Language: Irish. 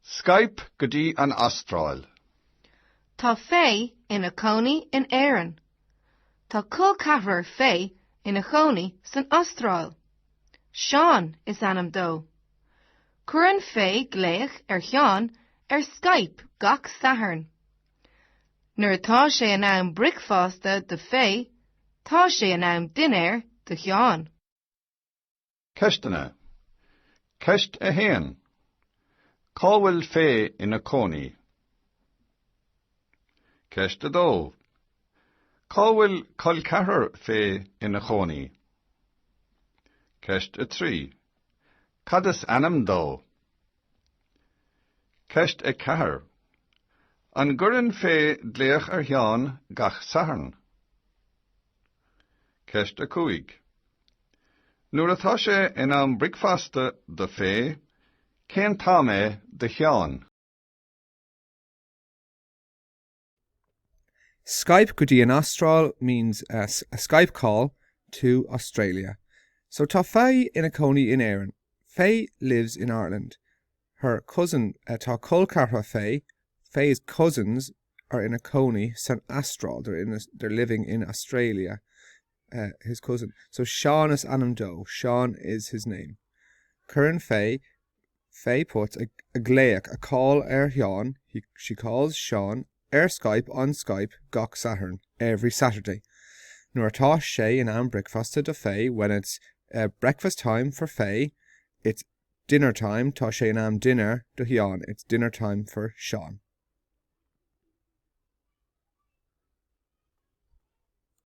Skype go dtí an Astráil. Tá Faye ina cónaí in Éirinn. Tá col ceathrar Faye ina chónaí san Astráil. Seán is ainm dó. Cuireann Faye glaoch ar Sheán ar Skype gach Satharn. Nuair atá sé in am bricfeasta do Faye, tá sé in am dinnéir do Sheán. Ceisteanna. Ceist 1. Cá bhfuil Faye ina cónaí? Ceist 2. Cá bhfuil col ceathrar Faye ina chónaí? Ceist 3. Cad is ainm dó? Ceist 4. An gcuireann Faye glaoch ar Sheán gach Satharn? Ceist 5. Nuair atá sé in am bricfeasta do Faye, cén t-am é do Sheán? Skype go dtí an Astráil means a Skype call to Australia. So tá Faye ina cónaí in Éirinn. Faye lives in Ireland. Her cousin Tá col ceathrar Faye, Faye's cousins, are ina cónaí san Astráil, they're in, they're living in Australia. eh, his cousin, so Seán is ainm dó, Seán is his name. Cuireann Faye, Faye Potts, a, a glaoch, a call, ar Sheán, he, she calls Seán, ar Skype, on Skype, gach Satharn, every Saturday. Nuair atá sé in am bricfeasta do Faye, when it's, eh, breakfast time for Faye, it's dinner time, tá sé in am dinnéir do Sheán, it's dinner time for Seán.